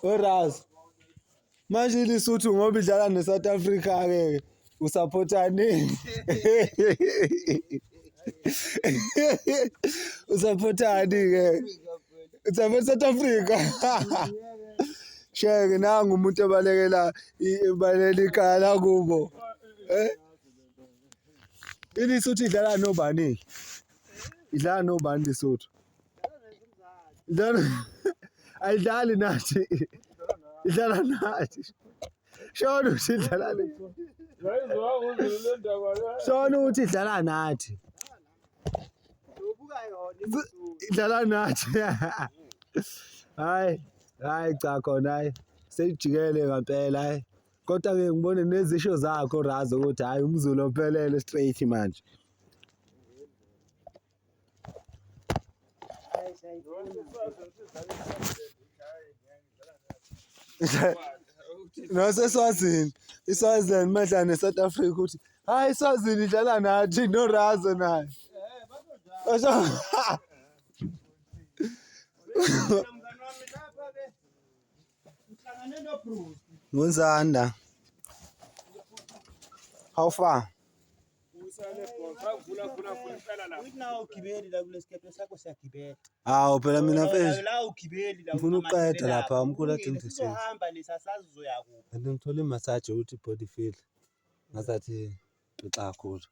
Oraz. Manje iLesotho ngoba idlala neSouth Africa ke usupportani. Usupportani ke. Usupporta South Africa. Sheke nangu umuntu obalekela ibalekela ikhala kubo. Eh? iLesotho idlala nobani? Idlala nobani iLesotho? Idlala ayidlali nathi. Idlala nathi. Shona ukuthi idlala nathi. Shona ukuthi idlala nathi. Idlala nathi. Hayi, hayi cha khona hayi. Seyijikele ngempela hayi. Kodwa ke ngibone nezisho zakho Razo ukuthi hayi umzulu ophelele straight manje. naseswazini iswazini madla ne-south africa ukuthi hayi iswazini idlala nathi norazo nayo ngunzanda how far Hawu phela mina mfethu ngifuna ukuqeda lapha umkhulu athi ngidlisile. Kanti ngithole imasaji ukuthi body feel ngazathi pixa kakhulu.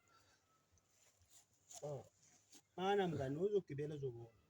Mana mngani uzogibela uzobona.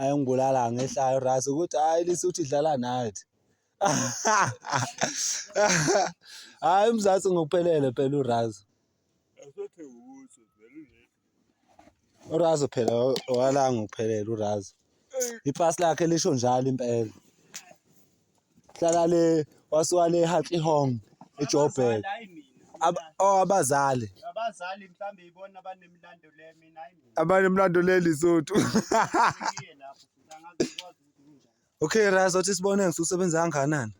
Ayi ngibulala ngehlayo ras ukuthi hayi lisuthi idlala nathi. Hayi uMzansi ngokuphelele phela uRaz. Asothi ukuthi vele uRaz phela wala ngokuphelele uRaz. Ipasi lakhe lisho njalo impela. hlala le wasuka le Hartley Hong eJoburg oh, abazali abazali mhlambe ibona abanemlando le mina abanemlando le Lesotho Okay Raz othi sibone ngisusebenza kangakanani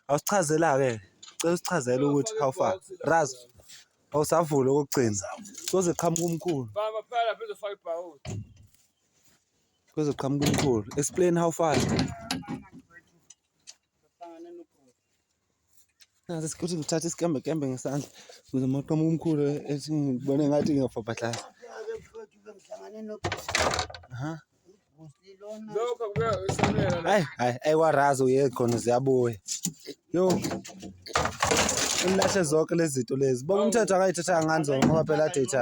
awusichazela ke cela usichazele ukuthi how far Raz awusavula okugcina soze qhamuka umkhulu baba phela phezofaka ibhawuzi Kuzoqhamuka umkhulu. Explain how far. Nase sikuthi ngithatha isikembe kembe ngesandla kuze maqhamuka umkhulu ethi ngibone ngathi ngiyafabhahlaza. Aha. Lokho kuya esamela. Hayi hayi ayikwarazi uye khona ziyabuya. Yo. Imlahle zonke lezi zinto lezi. Bonke umthetho akayithathanga ngani zona ngoba phela data.